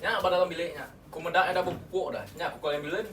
Nya ba dalam bilik nya. Ku meda enda bepupuk dah. Nya ku call ambulance.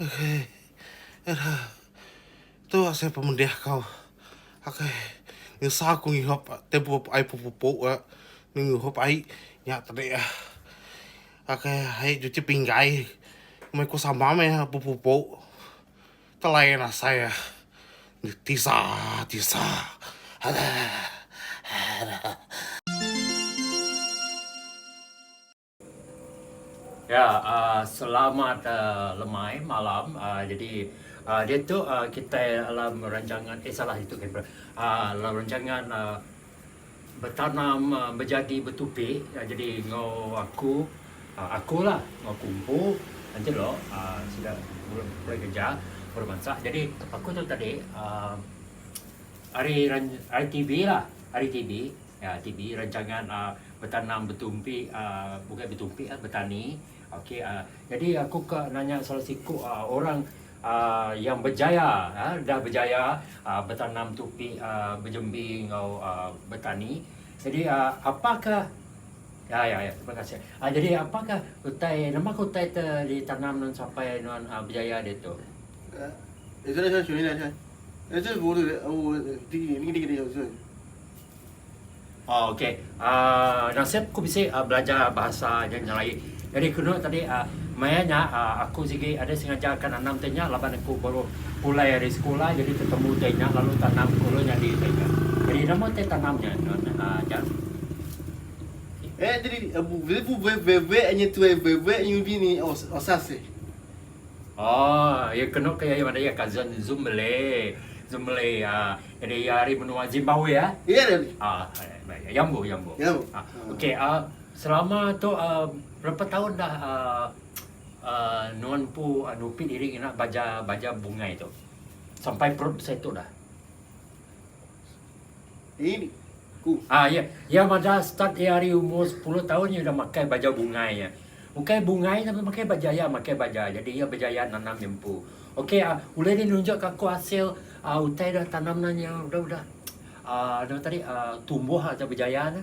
Okey. Ira. Tu asai pemedih ko. Okey. Nyusah aku ngihup tempoh pu ai pupu-pupu ga ngihup ai nya tadi ah. Okey ai cuci pinggai meh ku sama meh pupu-pupu. Tu lain asai ah. Tisa tisa. Aduh. Aduh. Ya selamat lemai malam jadi ditu kitai alam rancangan eh salah ditu alam rancangan betanam bejadi betupi jadi enggau aku aku la enggau aku empu enti lok sida pulai kereja pulai bansa jadi aku tu tadi um ari TV la ari TV rancangan um Betanam betumpi bukai betumpi betani ok jadi aku ka nanya salah siku orang yang bejaya dah bejaya betanam tupi bejembi enggau betani jadi apaka ya ya terima kasih jadi apaka utai nama ka utai tu ditanam nuan sapai nuan bejaya diatu. Oh, okey. Uh, nasib aku bisi uh, belajar bahasa yang nyelaik. Jadi kena tadi uh, maya nya uh, aku sigi ada sengaja akan anam tanya laban aku baru pulai dari sekolah jadi ketemu tanya lalu tanam kulu nya di tanya. Jadi nama te tanam nya non uh, jan. Eh jadi uh, bebe bebe nya tu bebe nya bini osas. Oh, Aww iya kenu ke iya meda iya cousin zumle zumle ah jadi iya ari menua Zimbabwe ah. Iya dah ni. Ah baik yambo yambo. Yambo. Ah, ah. okey ah selama tu ah berapa tahun dah ah ah nuan empu ah, nupi diri ngena baja baja bungai tu. Sampai perut besai tu dah. Ini, ku. Ah, iya. Iya madah start iya ari umur sepuluh taun iya udah makai baja bungai iya. Ukai bungai tapi makai baja iya makai baja jadi iya bejaya nanam nyempu. Okey ah, ulih deh nunjuk ka aku asil ah utai dah tanam nya nya udah udah ah anu tadi ah tumbuh ah dah bejaya nya.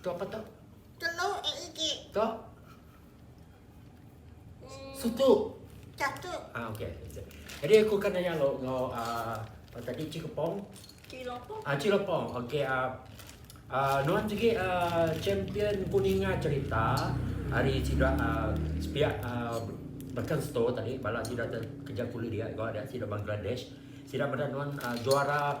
Tu apa tu? Telu eh igi. Tu? Suku. Catu. Ah, okey. Jadi aku akan nanya lo ngau uh, ah, tadi Cik Kepong. Cik Lopong. Ah, Cik Lopong. Okey. Uh, uh, nuan juga uh, champion kuningan cerita hari sida uh, sepiak uh, bahkan store tadi bala sida kerja kulit dia kau ada sida Bangladesh sida pada nuan uh, juara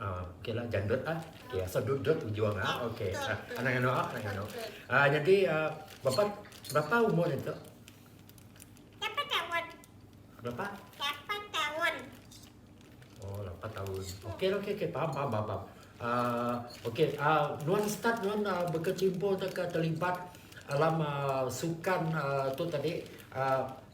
Ah okay lah janggut ah okay asal dut dut ujung ah okay ah anang anu ah anang anu ah jadi ah bapa berapa umur nya tu? Lapan tahun. Berapa? Lapan tahun. Oh lapan tahun. Okay lah okay okay paham paham paham. paham. Ah okay ah nuan start nuan ah, berkecimpung atau terlibat alam ah, sukan ah, tu tadi ah,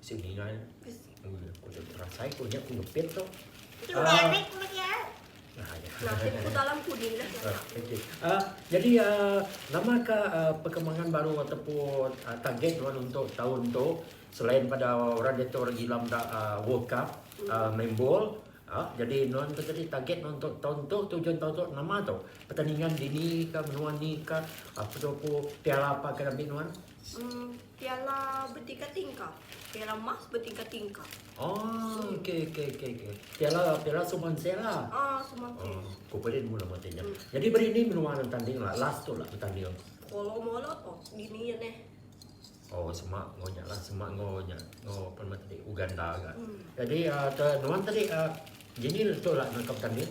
Bisi dingai. Aku dah berasai ko nya aku ngepit tu. Ah. Nah, ya. Ngapit ku dalam kudi lah. Okey. Ah, jadi ah, nama ka ah, perkembangan baru ataupun ah, target nuan untuk tahun tu selain pada orang dia tu orang gila meda ah, World Cup ah, main bol ah, jadi nuan tu tadi target nuan untuk tahun tu tujuan tahun tu nama tu? Pertandingan dini ka menua ni ka apa tu aku piala apa ka ambi nuan? Piala betingkah-tingkah. Piala emas betingkah-tingkah. Piala suman seh la. Ku Perit mula mati nya. Nyadi meri indi menua dang betanding la last tu la betanding? Polo molo ko dini nya neh. Oh sema enggau nya la sema enggau nya enggau apa nama tadi Uganda ka. Jadi aaa nuan tadi aaa jini tu la nangkap betanding?